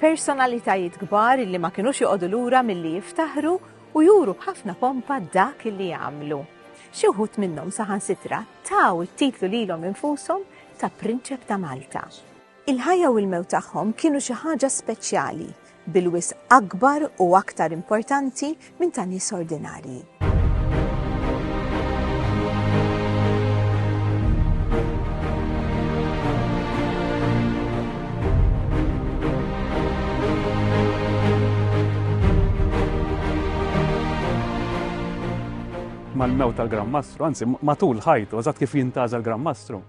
Personalitajiet kbar li ma kinux joqogħdu lura milli jiftaħru u juru b'ħafna pompa dak li jagħmlu. Xi wħud minnhom saħansitra taw it-titlu lilhom infushom ta' Prinċep ta' Malta. Il-ħajja u l-mewt tagħhom kienu xi ħaġa speċjali, bil-wisq akbar u aktar importanti minn ta' nies ordinarji. mal-mew tal-Gran Mastru, anzi matul ħajtu, eżatt kif jintaża l-Gran Mastru.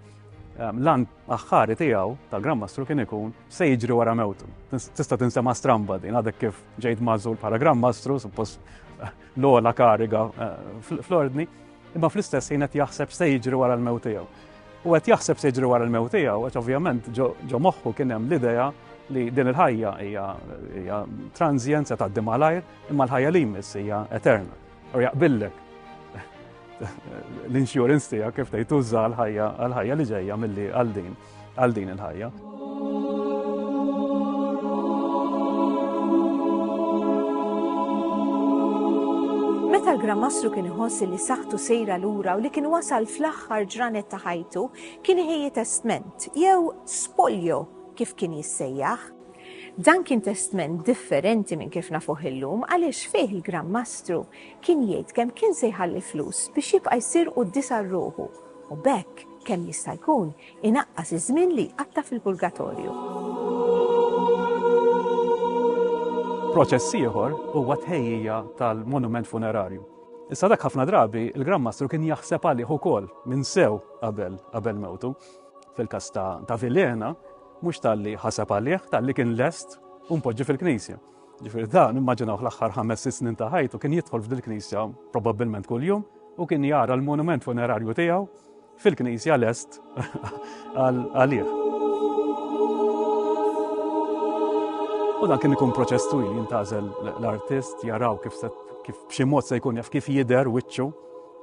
Ehm, Lan aħħari tiegħu tal-Gran Mastru kien ikun se jiġri wara mewtu. Tista' tinsema' stramba din għadek kif ġejt mażul bħala Gran Mastru, suppost eh, l-ola kariga eh, fl-ordni, imma fl-istess ħin qed jaħseb se jiġri wara l-mewt tiegħu. U qed jaħseb se jiġri wara l-mewt tiegħu, għax ovvjament ġo moħħu kien hemm l-idea li din il-ħajja hija transjenza ta' dimalajr imma l-ħajja li jmiss hija eterna. U jaqbillek l-insurance tiegħek kif tgħid tuża għall-ħajja għall-ħajja li ġejja milli għal din għal din il-ħajja. Meta l-Gran Mastru kien iħossi li saħtu sejra lura u li kien wasal fl-aħħar ġranet ta' ħajtu, kien iħejji testment jew spoljo kif kien jissejjaħ. Dan kien testment differenti minn kif nafuh illum għaliex fih il-Gran Mastru kien jgħid kemm kien se jħalli flus biex jibqa' jsir quddies għal ruħu u b'hekk kemm jista' jkun inaqqas iż-żmien li jqatta' fil-purgatorju. Proċess ieħor huwa t-tħejjija tal-monument funerarju. Issa dak ħafna drabi il-Gran Mastru kien jaħseb għalih ukoll minn sew qabel qabel mewtu. Fil-każ ta' Vilhena, mhux talli ħaseb għalih, talli kien lest u mpoġġi fil-knisja. Ġifieri dan immaġinaw l-aħħar ħames sitt snin ta' ħajtu kien jidħol f'dil-knisja probabbilment kuljum u kien jara l-monument funerarju tiegħu fil-knisja lest għalih. U dan kien ikun proċess twil jintażel l-artist jaraw kif kif b'xi mod se jkun jaf kif jidher wiċċu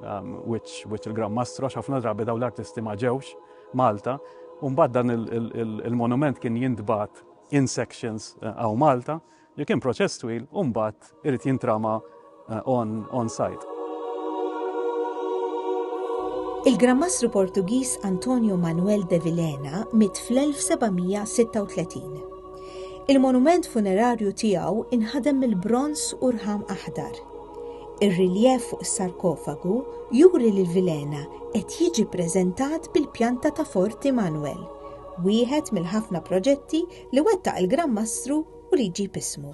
Wiċċ wiċċ il-Gran Mastro għax ħafna drabi dawn l-artisti ma ġewx Malta u mbagħad dan il-monument kien jintbagħat in sections għaw Malta li kien proċess twil u mbagħad irid jintrama on, on site. Il-Gran Mastru Portugiż Antonio Manuel de Vilena mit fl-1736. Il-monument funerarju tiegħu inħadem mill-bronż u rħam aħdar. Ir-riljef fuq is-sarkofagu juri li l-vilena qed jiġi ppreżentat bil-pjanta ta' Fort Immanuel, wieħed mill-ħafna proġetti li wettaq il-Gran Mastru u li jġib ismu.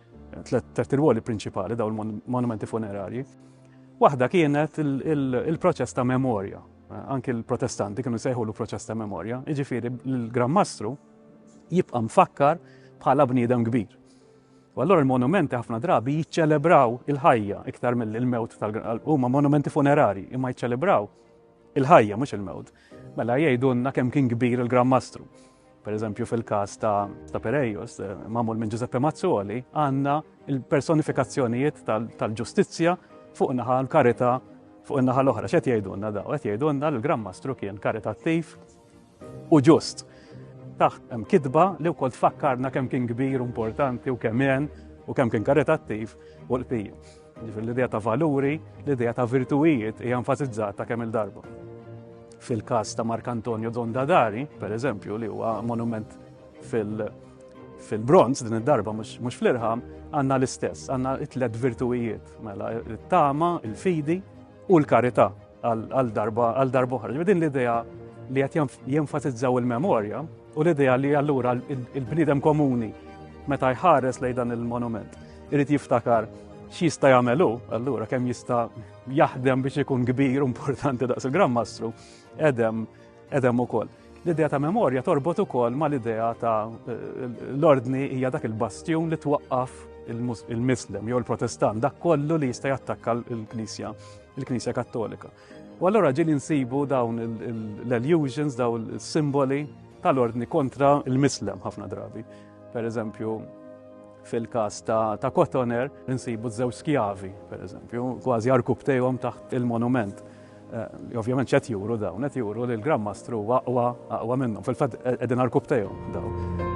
Tliet irwoli prinċipali dawn il-monumenti funerarji. Waħda kienet il-proċess ta' memorja. Anki l-protestanti kienu sejħulu proċess ta' memorja. Iġifiri, l-Gran Mastru jibqa' mfakkar bħala bniedem kbir. U allora il-monumenti ħafna drabi jiċċelebraw il-ħajja iktar mill-mewt tal-huma monumenti funerari, imma jiċċelebraw il-ħajja mhux il-mewt. Mela jgħidulna kemm kien kbir il-Gran Mastru. Per eżempju fil-każ ta' Perejos, eh, magħmul minn Giuseppe Mazzoli, għandna il-personifikazzjonijiet tal-ġustizzja fuq naħa l-karità fuq in-naħa l-oħra. X'qed jgħidulna daw? Qed jgħidulna li l-Gran Mastru kien karitattiv u ġust. Taħt hemm kitba li wkoll tfakkarna kemm kien kbir, importanti u kemm u kemm kien karitattiv u l-qbija. Ġifir l-idea ta' valuri, l-idea ta' virtuijiet hija enfasizzata kemm il-darba. Fil-każ ta' Mark Antonio Dondadari, per eżempju, li huwa monument fil-bronz din id-darba mhux fl-irħam, għandna l-istess, għandna it-tlet virtuijiet, mela it-tama, il-fidi u l-karità għal darba għal darba oħra. Din l-idea li qed jenfasizzaw il-memorja U l-idea li allura il-bniedem komuni meta jħares lejn dan il-monument irid jiftakar x'jista' jagħmel hu, allura kemm jista' jaħdem biex ikun kbir u importanti daqs il-Gran Mastru, edem edem ukoll. L-idea ta' memorja torbot ukoll ma' l-idea ta' l-ordni hija dak il-bastjun li twaqqaf il-Mislem jew il-Protestant, dak kollu li jista' jattakka l-Knisja, il-Knisja Kattolika. U allura ġili nsibu dawn l-illusions, dawn il-simboli tal-ordni kontra il-mislem ħafna drabi. Per eżempju, fil-kas ta', ta Kotoner, nsibu żew skjavi, per eżempju, kważi arkubtejhom taħt il-monument. Eh, ovvjament ċet juru dawn, qed juru li l-Gran Mastru waqwa aqwa minnhom, fil-fatt eh, qegħdin arkubtejhom dawn.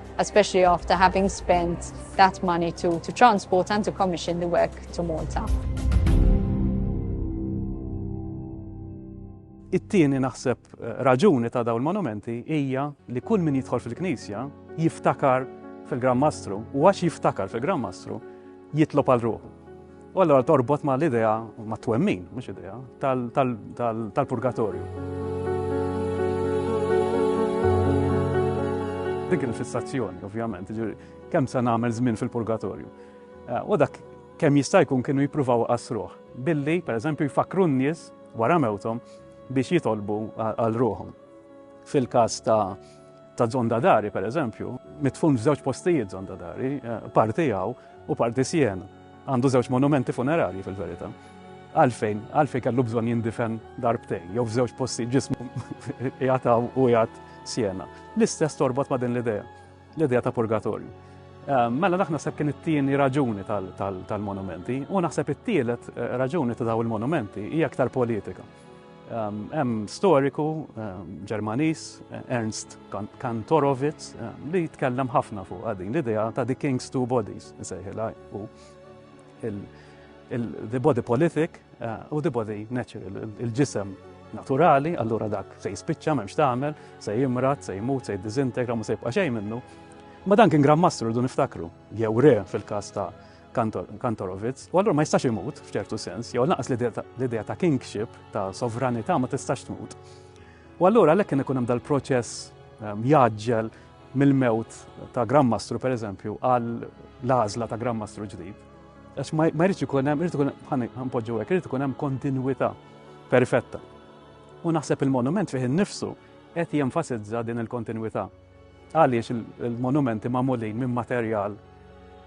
especially after having spent that money to, to transport and to commission the work to Malta. It-tieni naħseb eh, raġuni ta' dawn il-monumenti hija li kull min jidħol fil-Knisja jiftakar fil-Gran Mastru u għax jiftakar fil-Gran Mastru jitlob għal ruħu. U allora torbot ma' l-idea, ma' twemmin, mux idea, tal-purgatorju. Dik il-fissazzjoni, ovvjament, kemm se nagħmel żmien fil-purgatorju. Eh, u dak kemm jista' jkun kienu jippruvaw qasruh billi pereżempju jfakru n-nies wara mewthom biex jitolbu għal ruħhom. Fil-każ ta' ta' Zondadari pereżempju, mitfun f'żewġ postijiet Zondadari, eh, parti għaw u parti sjen. Għandu żewġ monumenti funerarji fil-verità. Għalfejn? Għalfejn kellu bżonn jindifen darbtejn, jew f'żewġ postijiet ġismu qiegħed hawn u qiegħed Siena. L-istess torbot ma' din l-idea, l-idea ta' purgatorju. Eh, mela naħna sepp kien it-tieni raġuni tal-monumenti u naħseb it-tielet eh, raġuni ta' daw il-monumenti hija aktar politika. Hemm storiku Ġermaniż Ernst Kantorowicz li jitkellem ħafna fuq din l-idea ta' the king's two bodies, nsejħilha u the body politic u the body natural, il-ġisem naturali, allura dak se jispiċċa m'hemmx tagħmel, se jimrat, se jmut, se jiddiżintegra, ma se jibqa' xejn minnu. Ma dan kien Grand Mastru rridu niftakru, jew re fil-każ ta' Kantorowicz, u allura ma jistax imut f'ċertu sens, jew naqas l-idea ta' kingship, ta' sovranità ma tistax tmut. U allura għalhekk kien ikun hemm dal-proċess ehm, jaġġel mill-mewt ta' Grammastru per eżempju għal l-għażla ta' Grammastru ġdid. Għax ma jridx ikun hemm, irid ikun hemm ħanpoġġu hekk, irid ikun hemm kontinwità perfetta. U naħseb il-monument fih innifsu qed jenfasizza din il-kontinwità. Għaliex il-monumenti magħmulin minn materjal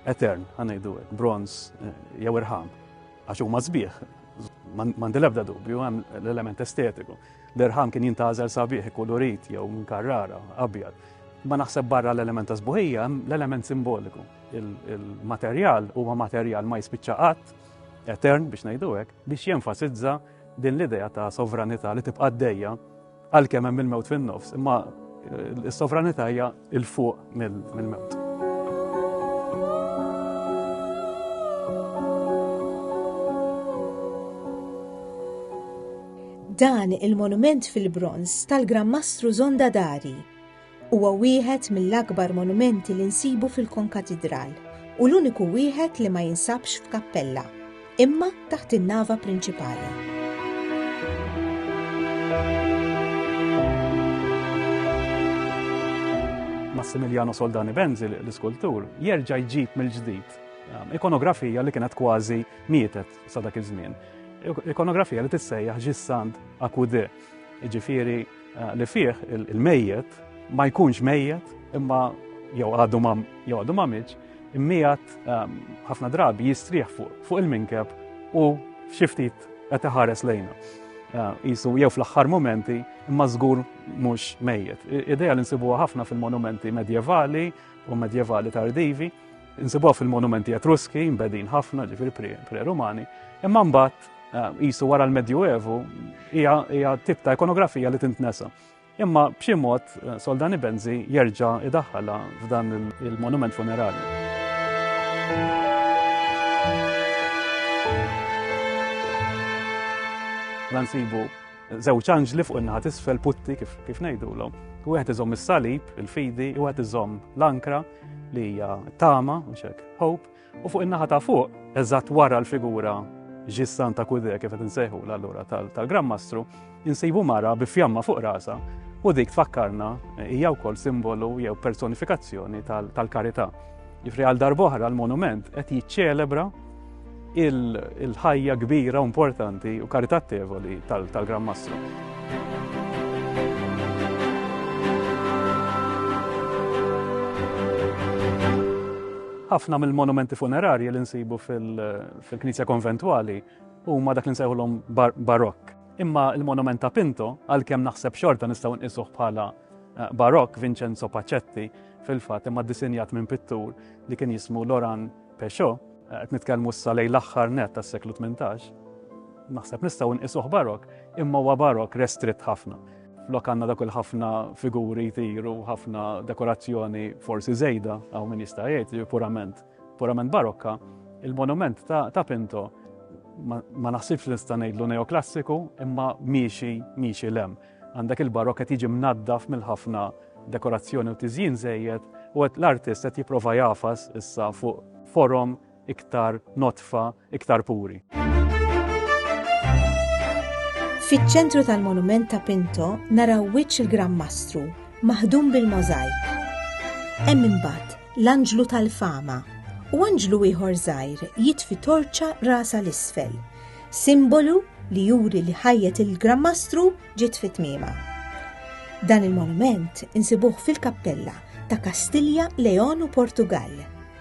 etern, ħanejdu hekk, bronz eh, jew irħam, għax huma sbieħ, mandi l-ebda dubju, hemm l-element estetiku. L-irħam kien jintażel sabiħ, kulurit jew minn karrara, abjad. Ma naħseb barra l-element ta' sbuħija, l-element simboliku. Il-materjal huwa materjal ma jispiċċa qatt, etern biex ngħidu hekk, biex jenfasizza din l-idea ta' sovranità li tibqa' dejja Għalkemm hemm il-mewt fin-nofs, imma is-sovranità hija il fuq mill-mewt. Dan il-monument fil-bronz tal-Gran Mastru Zonda Dari Huwa wieħed mill-akbar monumenti li nsibu fil-konkatidral u l-uniku wieħed li ma jinsabx f'kappella, imma taħt in-nava prinċipali. Massimiliano Soldani Benzi, l-iskultur, jerġa' jġib mill-ġdid um, ikonografija li kienet kważi mietet sa dak iż-żmien. Ikonografija li tissejjaħ ġissand akude, ġifiri li fih il-mejjet ma jkunx mejjet imma jew għadu mam jew għadu mamiċ, immijat ehm, ħafna drabi jistrieħ fuq il-minkeb u xiftit qed iħares lejna. Jisu ehm, jew fl-aħħar momenti imma żgur mhux mejjet. Ideja li nsibuha ħafna fil-monumenti medjevali u medjevali tardivi, nsibuha fil-monumenti etruski, mbedin ħafna, ġifir pre-romani, imma mbagħad Eh, qisu wara l-Medjuevu hija tip ta' ikonografija li tintnesa. Imma b'xi mod eh, Soldani Benzi jerġa' idaħħala f'dan il-monument funerali. Nansibu żewġ anġli fuq in-naħat isfel putti kif kif ngħidulhom. Wieħed iżomm is-salib, il-fidi, u wieħed iżomm l-ankra li hija tama, mhux hekk, hope, U fuq in-naħa ta' fuq, eżatt wara l-figura ġissan ta' Kudè kif qed insejħu l-allura tal-Gran Mastru, insibu mara bi fjamma fuq rasha u dik tfakkarna hija wkoll simbolu jew personifikazzjoni tal-karità. Ġifri għal darboħra l-monument qed jiċċelebra il-ħajja kbira u importanti u karitattevoli tal-Gran Mastru. Ħafna mill-monumenti funerarji li nsibu fil-Knisja Konventwali huma dak li nsejħulhom barokk. Imma l-monument ta' Pinto, għalkemm naħseb xorta nistgħu nqisuh bħala eh, barokk Vincenzo Pacetti fil-fatt imma ddisinjat minn pittur li kien jismu Loran Peugeot, eh, qed nitkellmu issa lejn l-aħħar net tas-seklu 18. Naħseb nistgħu nqisuh barokk, imma huwa barokk restritt ħafna. Flok għandna dak il-ħafna figuri jtiru, ħafna dekorazzjoni forsi żejda, għaw min jista' jgħid li purament, purament barokka, il-monument ta', ta Pinto ma, ma naħsibx li nista' ngħidlu neoklassiku imma miexi miexi lem. Għandek il-barokka tiġi mnaddaf mill-ħafna dekorazzjoni u tiżjin żejjed u l-artist qed jipprova jafas issa fuq forom iktar nodfa, iktar puri. Fiċ-ċentru tal-monument ta' Pinto naraw wiċċ il-Gran Mastru, maħdum bil-możajk. Hemm imbagħad l-Anġlu tal-Fama u anġlu ieħor żgħir jitfi torċa rasa l-isfel, simbolu li juri li ħajjet il-Gran Mastru ġiet fit tmiema. Dan il-monument insibuh fil-kappella ta' Kastilja, Leon u Portugal.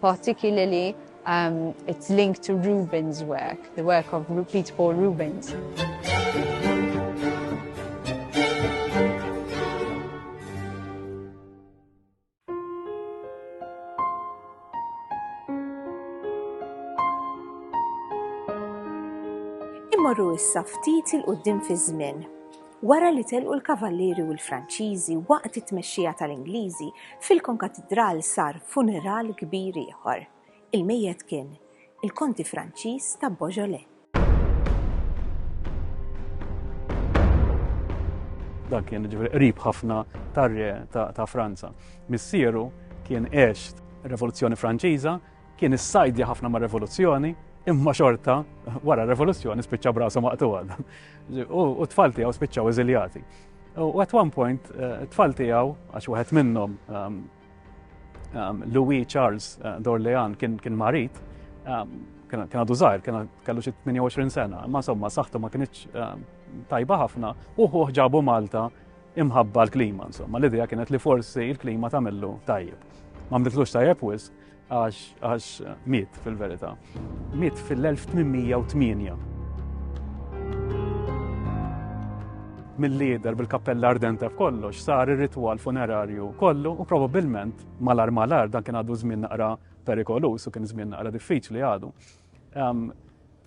particularly um, it's linked to Rubens' work, the work of Peter Paul Rubens. Immorru issa ftit il-qoddim fi żmien wara li telqu l-Kavallieri u l-Franċiżi waqt it-tmexxija tal-Ingliżi, fil-Konkatidral sar funeral kbir ieħor. Il-mejjet kien il-Konti Franċiż ta' Beaujolais. Dan kien ġifieri qrib ħafna tar-re ta' Franza. Missieru kien għex Revoluzzjoni Franċiża Kien issajdja ħafna mar-revoluzzjoni, imma xorta wara r-revoluzzjoni spiċċa brasu maqtuha. U t-tfal tiegħu spiċċaw eżiljati. U at one point, eh, t-tfal tiegħu, għax wieħed minnhom ehm, ehm, Louis Charles eh, Dorlean kien marit, ehm, kien għadu zaħir, kien kellu xi 28 sena, ma somma saħtu ma kienx tajba ħafna, uħu ġabu Malta imħabba l-klima, insomma, l-idea kienet li forsi l-klima tamillu tajjeb. Ma mditlux tajjeb wisq, Għax miet fil-verità. Miet fil-1808. mill-lider bil-kappella ardenta f'kollox sar ir-ritwal funerarju kollu u probabbilment malar malar dan kien għadu żmien naqra perikolus u kien żmien naqra diffiċli għadu. Ehm,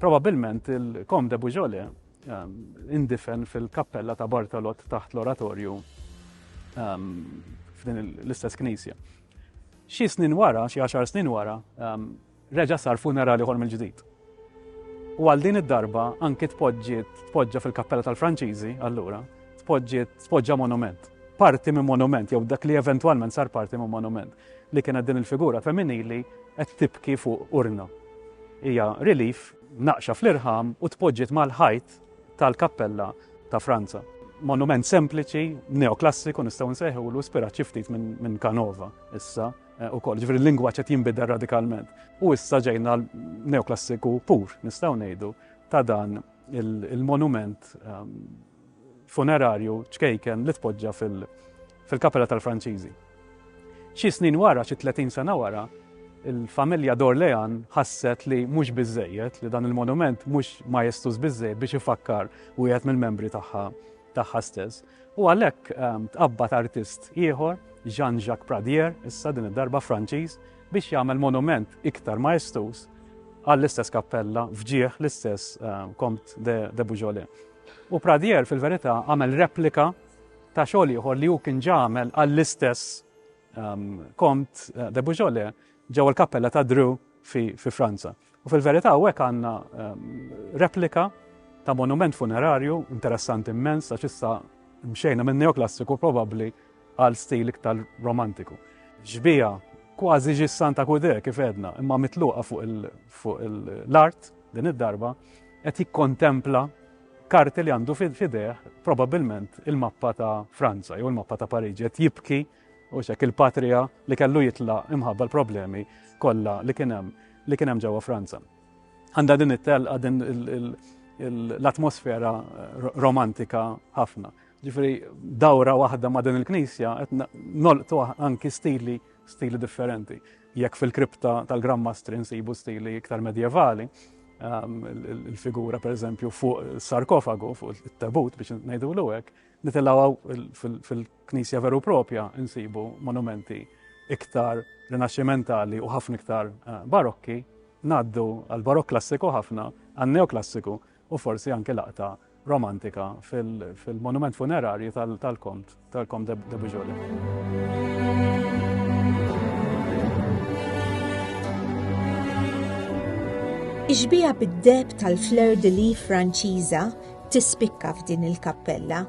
Probabilment il-Kom de Bujole ehm, indifen fil-kappella ta' Bartolot taħt l-oratorju ehm, f'din l-istess knisja. Xi snin wara, xi għaxar snin wara, reġa' sar funeral ieħor mill-ġdid. U għal din id-darba anki tpoġġiet tpoġġa fil-kappella tal-Franċiżi allura, tpoġġiet tpoġġa monument. Parti minn monument jew dak li eventwalment sar parti minn monument li kienet din il-figura femminili qed tibki fuq urna. Hija relief naqxa fl-irħam u tpoġġiet mal-ħajt tal-kappella ta' Franza. Monument sempliċi, neoklassiku nistgħu nsejħulu ispirat xi ftit minn Canova issa eh, ukoll, ġifieri l-lingwaġġ qed jinbidel radikalment. U issa ġejna neoklassiku pur nistgħu ngħidu ta' dan il-monument ehm, funerarju ċkejken li tpoġġa fil- fil-Kapella tal-Franċiżi. Xi snin wara, xi tletin sena wara, il-familja d'Orléans ħasset li mhux biżżejjed, li dan il-monument mhux majestus biżżejjed biex ifakkar wieħed mill-membri tagħha tagħha stess. U għalhekk ehm, tqabbad artist ieħor, Jean-Jacques Pradier, issa din id-darba Franċiż, biex jagħmel monument iktar majestus għall-istess kappella fġieħ l-istess ehm, Comte de, de Beaujolais. U Pradier fil-verità għamel replika ta' xogħol ieħor li hu kien ġamel għall-istess kont eh, de Bujole ġewwa l-kappella ta' Drew fi Franza. U fil-verità u hekk għandna replika ta' monument funerarju interessanti immens għax issa mxejna minn neoklassiku probabbli għal stil iktar romantiku. Ġbija kważi ġis Santa Kude kif edna, imma mitluqa fuq l-art din id-darba qed jikkontempla Karti li għandu f'idejh probabbilment il-mappa ta' Franza jew il-mappa ta' Pariġi qed jibki u xek il-patrija li kellu jitlaq imħabba l-problemi kollha li kien hemm li kien hemm ġewwa Franza. Għandha din it-telqa din l-atmosfera eh, romantika ħafna. Ġifri, dawra waħda ma' din il-knisja, qed nolqtu anki stili, stili differenti. Jekk fil-kripta tal-Gran Mastri nsibu stili iktar medjevali, ehm, il-figura per eżempju fuq sarkofagu, fuq il-tabut biex ngħidu l hekk, nitilaw fil-knisja veru propja nsibu monumenti iktar rinaxximentali u ħafna iktar eh, barokki, naddu għal barok klassiku ħafna, għal neoklassiku u forsi anke laqta romantika fil-monument funerarju tal-Kont, tal-Kom de Bujoli. Ix-xbieha bid-deheb tal-fleur de lis Franċiża tispikka f'din il-kappella.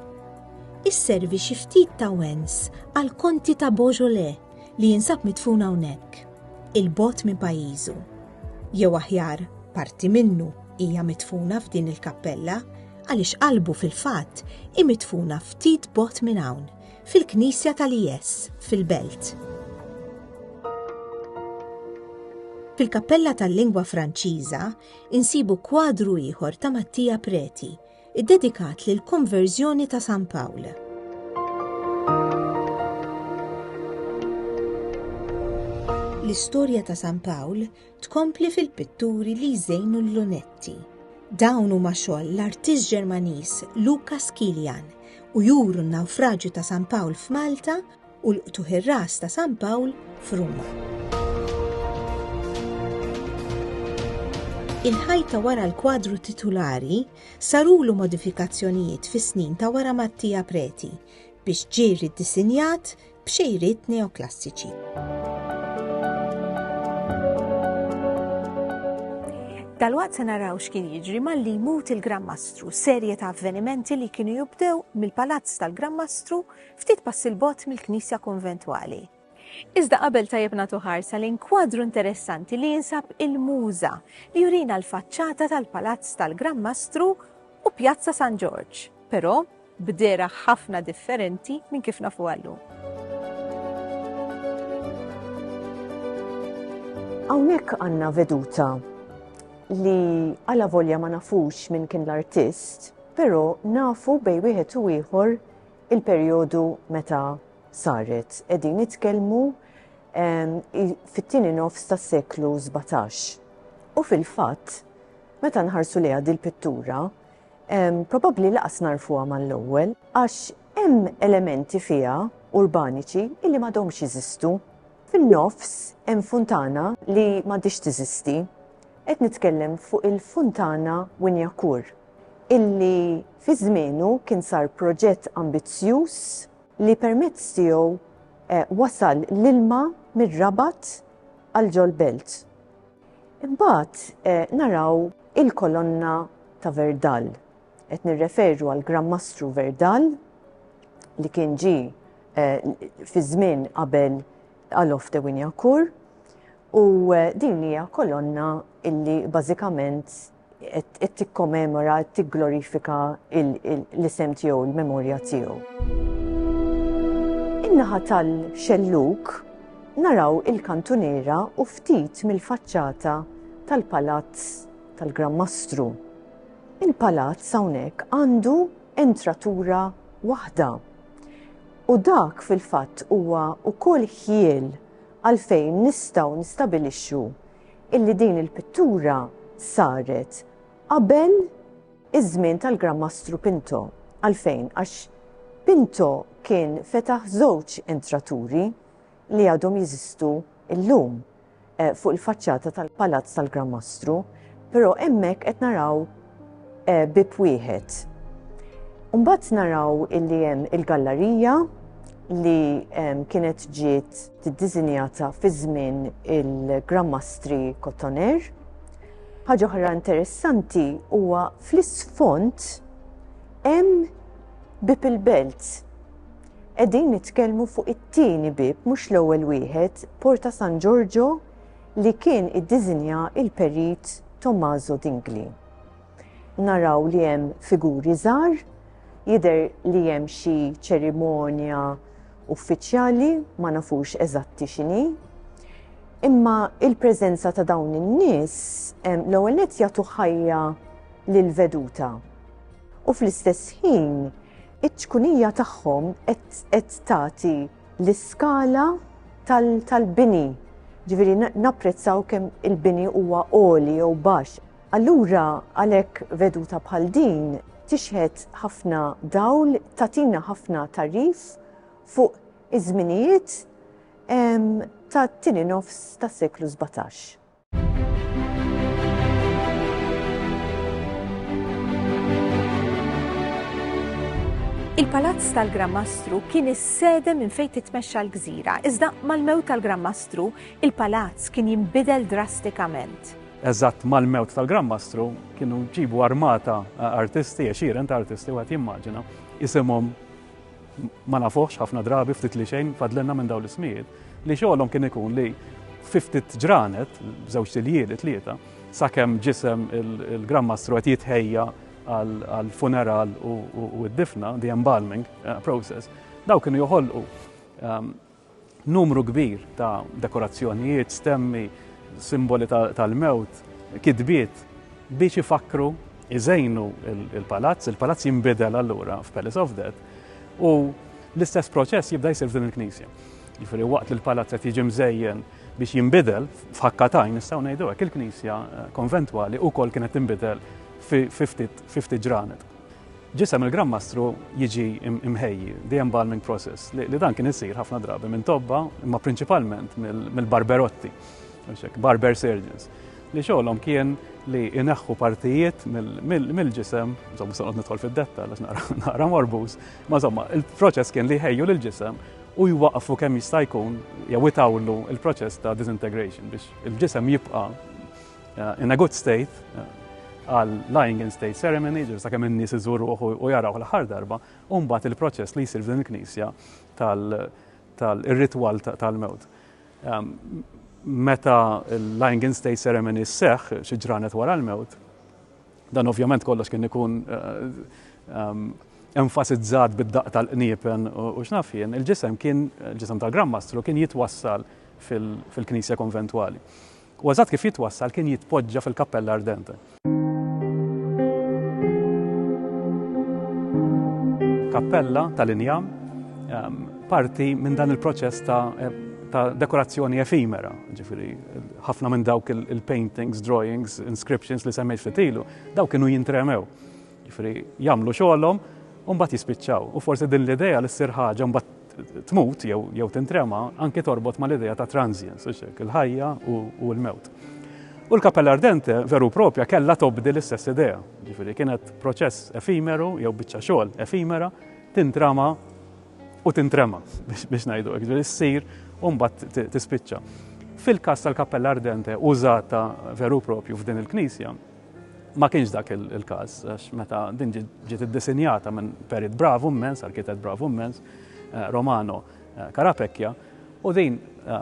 Isservi xi ftit ta' wens għall-Konti ta' Beaujolais li jinsab midfun hawnhekk, il-bogħod minn pajjiżu. Jew aħjar, parti minnu hija midfuna f'din il-kappella għaliex qalbu fil-fatt hi midfuna ftit bot minn hawn, fil-Knisja tal-IS, fil-Belt. Fil-Kappella tal-Lingwa Franċiża insibu kwadru ieħor ta' Mattia Preti iddedikat lill-konverżjoni ta' San Pawl. L-istorja ta' San Pawl tkompli fil-pitturi li jżejnu l-lunetti. Dawn huma xogħol l-artist Ġermaniż Lukas Kilian u juru n-nawfraġju ta' San Pawl f'Malta u l-qtugħ ir-ras ta' San Pawl f'Ruma. Il-ħajta wara l-kwadru titulari sarulu modifikazzjonijiet fis-snin ta' wara Mattia Preti biex ġiri disinjat b'xejriet neoklassiċi. Dalwaqt se naraw x'kien jiġri malli jmut il-Gran Mastru, serje ta' avvenimenti li kienu jibdew mill-palazz tal-Gran Mastru ftit passi 'l bogħod mill-knisja konventwali. Iżda qabel tajjeb nagħtu ħarsa lejn kwadru interessanti li jinsab il-Muża li jurina l-faċċata tal-Palazz tal-Gran Mastru u Pjazza San Ġorġ, però b'dehra ħafna differenti minn kif nafuha llum. Hawnhekk għandna veduta li għala volja ma nafux minn kien l-artist, però nafu bej wieħed u ieħor il-perjodu meta saret. Qegħdin nitkellmu fit-tieni nofs tas-seklu 17. U fil-fatt, meta nħarsu lejha dil-pittura, probabbli laqas narfuha mal-ewwel għax hemm elementi fiha urbaniċi illi m'għadhomx jeżistu. Fin-nofs hemm funtana li m'għadhiex teżisti. Qed nitkellem fuq il-Funtana Wynyakur, illi fi żmienu kien sar proġett ambizzjuż li permezz tiegħu wasal l-ilma mir-Rabat għal ġol-belt. Imbagħad naraw il-Kolonna ta' Verdal. Qed nirreferu għall-Gran Mastru Verdal li kien ġie fi żmien qabel Alof de Wynyakur U din hija kolonna illi bażikament qed tikkomemora, tigglorifika l-isem tiegħu, l-memorja tiegħu. In-naħa tal-xellug naraw il-kantuniera u ftit mill-faċċata tal-Palazz tal-Gran Mastru. Il-palazz hawnhekk għandu entratura waħda u dak fil-fatt huwa wkoll ħjiel Għalfejn nistgħu nistabilixxu illi din il-pittura saret qabel iż-żmien tal-Gran Mastru Pinto? Għalfejn? Għax Pinto kien fetaħ żewġ entraturi li għadhom jeżistu llum fuq il-faċċata tal-Palazz tal-Gran Mastru, però hemmhekk qed naraw, eh, bib wieħed. Mbagħad naraw illi hemm il-gallarija li ehm, kienet ġiet tiddiżinjata fi żmien il-Grammastri Kotoner. Ħaġa oħra interessanti huwa fl-isfond hemm bib il-belt. Qegħdin nitkellmu fuq it-tieni bib mhux l-ewwel wieħed, Porta San Giorgio li kien iddiżinja l-Perit Tommaso Dingli. Naraw li hemm figuri żgħar, jidher li hemm xi ċerimonja uffiċjali ma nafux eżatti x'inhi. Imma il-preżenza ta' dawn in-nies l-ewwel nett jagħtu ħajja lil veduta. U fl-istess ħin iċ-ċkunija tagħhom qed tagħti l-iskala tal-bini, ġifieri napprezzaw kemm il-bini huwa għoli jew baxx. Allura għalhekk veduta bħal din tixħet ħafna dawl, tagħtina ħafna tagħrif fuq iż-żminijiet tat-tieni nofs tas-seklu sbatax. Il-Palazz tal-Gran Mastru kien is-sede minn fejn titmexxa l-gżira, iżda mal-mewt tal-Gran Mastru, il-palazz kien jinbidel drastikament. Eżatt mal-mewt tal-Gran Mastru kienu ġibu armata artisti, għexieren ta' artisti wieħed jimmaġina, isimhom ma nafuhx ħafna drabi ftit li xejn fadlenna minn dawn l-ismijiet, li xogħolhom kien ikun li fi ftit ġranet, żewġ siljieli tlieta, sakemm ġisem il-Granmastru qed jitħejja għal funeral u d-difna, the embalming eh, process, daw kienu joħolqu ehm, Numru kbir ta' dekorazzjonijiet, stemmi, simboli tal-mewt, kitbiet biex ifakkru, iżejnu l-palazz. Il-palazz jinbidel allura f'Palace of Death u l-istess proċess jibda jsir f'din il-knisja. Jiġifieri waqt li l-palazz qed jiġi mżejjen biex jinbidel f'ħakka t'għajn nistgħu ngħidu hekk, il-knisja konventwali wkoll kienet tinbidel fi ftit ġranet. Ġisem il-Gran Mastru jiġi mħejji de-embalming process li dan kien isir ħafna drabi minn tobba imma prinċipalment mill-barberotti, barber surgeons, li xogħolhom kien li ineħħu partijiet mill-ġisem, insomma se nidħol fid-detta għax naqra morbuż, ma insomma il-proċess kien li jħejju lill-ġisem u jwaqfu kemm jista' jkun jew itawlu il-proċess ta' disintegration biex il-ġisem jibqa' uh, in a good state, uh, għal lying in state ceremony, ġir sa' kemm in-nies iżuru u jaraw l-ħar darba, u mbagħad il-proċess li jsir f'din il-knisja tal-ritwal tal-mewt. Um, meta l-lying in state ceremony seħ xi ġranet wara l-mewt, dan ovvjament kollox kien ikun uh, um, enfasizzat bid-daq tal-qniepen u x'naf jien, il-ġisem kien, il-ġisem tal-Grand Mastru kien jitwassal fil-Knisja Konventwali. U eżatt kif jitwassal kien jitpoġġa fil-Cappella Ardente. Kappella tal-injam, parti minn dan il-proċess ta' ta' dekorazzjoni efimera, ġifiri, ħafna minn dawk il-paintings, drawings, inscriptions li semmejt fitilu, dawk kienu jintremew. Ġifiri, jamlu xolom, un bat jispiċċaw. U forse din l-ideja li s-sir ħagġa, un bat tmut jew jew tintrema anke torbot mal-idea ta' transience, hux hekk, il-ħajja u, u l-mewt. U l-Cappella Ardente veru propja kellha tobdi l-istess idea, ġifieri kienet proċess efimeru jew biċċa xogħol efimera tintrama u tintrema biex, biex ngħidu hekk, ġifieri ssir u mbagħad tispiċċa. Fil-każ tal-Cappella Ardente użata veru propju f'din il-knisja, Ma kienx dak il-każ, għax meta din ġiet iddisinjata minn perit bravu mmens, arkitet bravu mmens, eh, Romano eh, Karapekja, u din eh,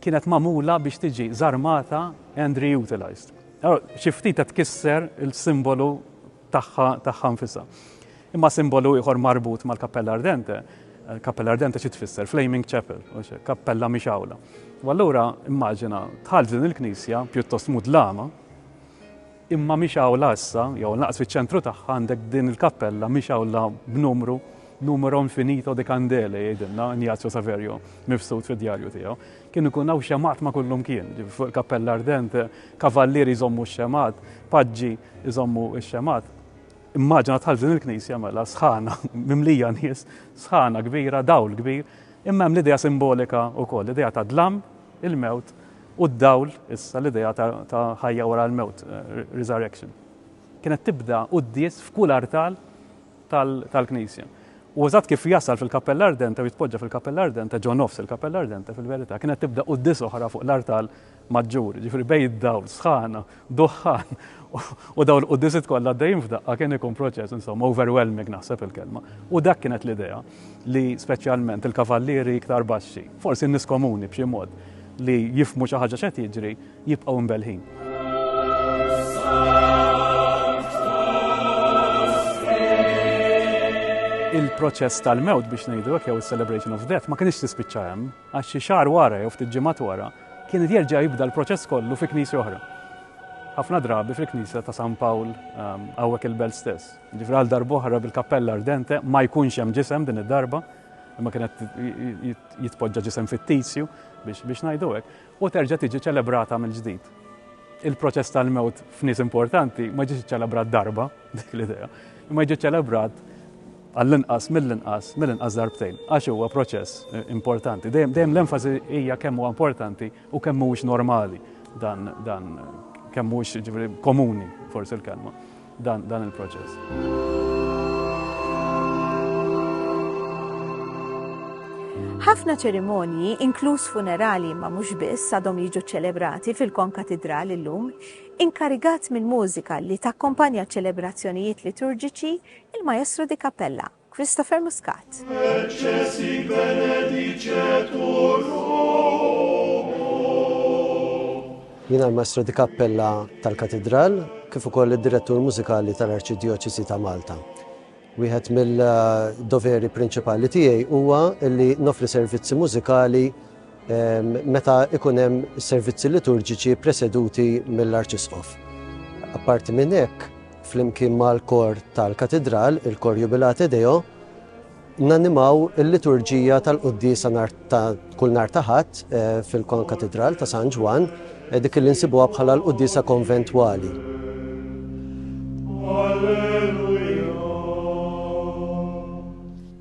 kienet mamula biex tiġi zarmata and reutilized. Xi ftit qed tkisser il-simbolu tagħha tagħha nfisha. Imma simbolu ieħor marbut mal-Kappella Ardente, Kappella Ardente xi tfisser Flaming Chapel, kappella mhix awla. U allura immaġina tħall din il-knisja pjuttost mudlama, Imma mhix awla issa, jew lanqas fiċ-ċentru tagħha għandek din il-kappella, mhix awla b'numru, numero infinito di candele jgħidilna Ignazio Saverio mifsud fid-djarju tiegħu. Kien ikun hawn xemgħat ma' kullumkien, fuq il-kappella ardente, kavallieri jżommu x-xemgħat, paġġi jżommu x-xemgħat. Immaġina tħall din il-knisja mela sħana, mimlija nies, sħana kbira, dawl kbir, imma hemm l-idea simbolika wkoll, l-idea ta' dlam, il-mewt, u d-dawl issa, l-idea ta' ħajja wara l-mewt, resurrection, kienet tibda quddies f'kull artal tal-Knisja. U eżatt kif jasal fil-Kappella Ardente u jitpoġġa fil-Kappella Ardente, ġo nofs il-Kappella Ardente, fil-verità, kienet tibda quddies oħra fuq l-artal maġġur, jiġifieri bejn id-dawl, sħana, duħħan u dawn il-quddisit kollha għaddejjin f'daqqa kien ikun proċess insomma overwhelming naħseb il-kelma. U dak kienet l-idea li speċjalment il-kavallieri iktar baxxi, forsi n-nies komuni b'xi mod li jifmu xi ħaġa x'qed jiġri jibqgħu mbelħin. il-proċess tal-mewt biex ngħidu jew is-celebration of death ma kienx tispiċċa hemm għax xi xahar wara jew ftit ġimgħat wara kien jerġa' jibda l-proċess kollu fi knisja oħra. Ħafna drabi fil-knisja ta' San Pawl ehm, hawnhekk il-belt stess. Ġifri għal darboħra bil-kappella ardente ma jkunx hemm ġisem din id-darba, imma kienet jitpoġġa ġisem fittizju biex ngħidu hekk, u terġa' tiġi ċelebrata mill-ġdid. Il-proċess tal-mewt f'nies importanti ma ġiex ċelebrat darba, dik l-idea, imma ġie ċelebrat għall-inqas, mill-inqas, mill-inqas darbtejn, għax huwa proċess importanti. Dejjem l-enfasi hija kemm huwa importanti u kemm mhuwiex normali dan dan kemm mhuwiex ġifieri komuni forsi l-kelma dan dan il-proċess. Ħafna ċerimonji, inkluż funerali ma mhux biss għadhom jiġu ċelebrati fil-konkatidral illum, inkarigat mill-mużika li takkompanja ċelebrazzjonijiet liturġiċi Il-Maestro di Cappella, Christopher Muscat. Recessi benedicetur Jiena l-Maestro di Cappella tal-Katidral kif ukoll id-Direttur Mużikali tal-Arċidjoċesi ta' Malta. Wieħed mill-doveri prinċipali tiegħi huwa li nofri servizzi mużikali meta ikun hemm servizzi liturġiċi preseduti mill-Arċisqof. Apparti minn hekk, flimkien mal-kor tal-Katidral, il-Kor Jubilate Deo, nanimaw il-liturġija tal-Quddis ta' kull nar taħat eh, fil-Kon Katidral ta' San Ġwan, eh, dik li nsibuha bħala l-Quddisa Konventwali. Alleluja.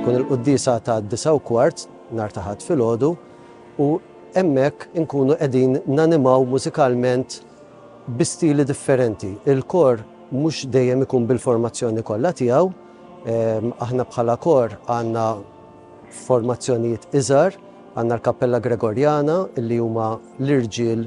Tkun il-quddiesa tad-disgħa u kwart, nhar ta' Ħadd filgħodu, u hemmhekk inkunu qegħdin nanimaw mużikalment bi stili differenti. Il-kor mhux dejjem ikun bil-formazzjoni kollha tiegħu, aħna bħala kor għandna formazzjonijiet iżgħar, għandna l-Kappella Gregorjana li huma l-irġiel,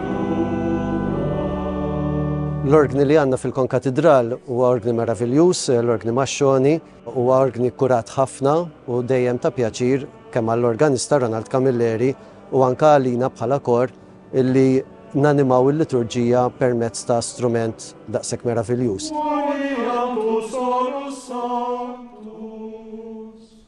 L-orgni li għandna fil-Konkatidral huwa orgni meraviljuż, l-orgni Mascioni. Huwa orgni kkurat ħafna u dejjem ta' pjaċir kemm għall-organista Ronald Camilleri u anke għalina bħala kor illi nanimaw il-liturġija permezz ta' strument daqshekk meraviljuż.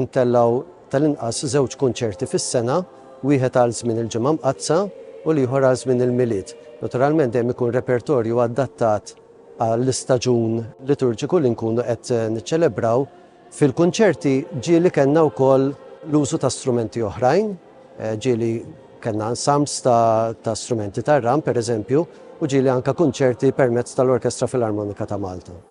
Intellgħu tal-inqas żewġ kunċerti fis-sena, wieħed għal żmien il-Ġimgħa Mqaddsa u l-ieħor għal żmien il-Milied. Naturalment dejjem ikun repertorju adattat għall-istaġun liturġiku li nkunu qed niċċelebraw. Fil-kunċerti ġieli kellna wkoll l-użu ta' strumenti oħrajn, ġieli kellna ensembles ta' ta' strumenti tar-ram, pereżempju, u ġieli anke kunċerti permezz tal-Orkestra Filarmonika ta' Malta.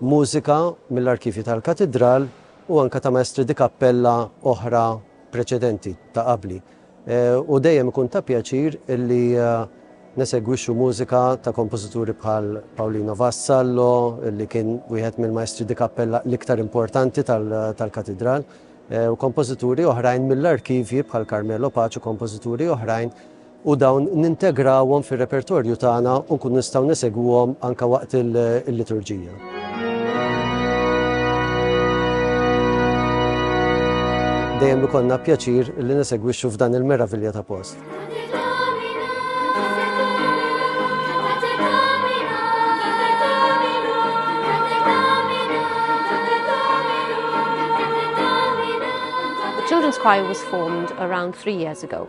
mużika mill-arkivji tal-Katidral u anke ta' maestri di kappella oħra preċedenti, ta' qabli. U dejjem ikun ta' pjaċir illi nesegwixxu mużika ta' kompożituri bħal Paolino Vassallo, illi kien wieħed mill-maestri di kappella l-iktar importanti tal-Katidral, u kompożituri oħrajn mill-arkivji bħal Carmelo Pace u kompożituri oħrajn, u dawn nintegrawhom fir-repertorju tagħna u nkunu nistgħu nesegwuhom anke waqt il-liturġija. Dejjem ikollna pjaċir li nesegwixxu f'dan il-meravilja ta' post. Children's Choir was formed around three years ago.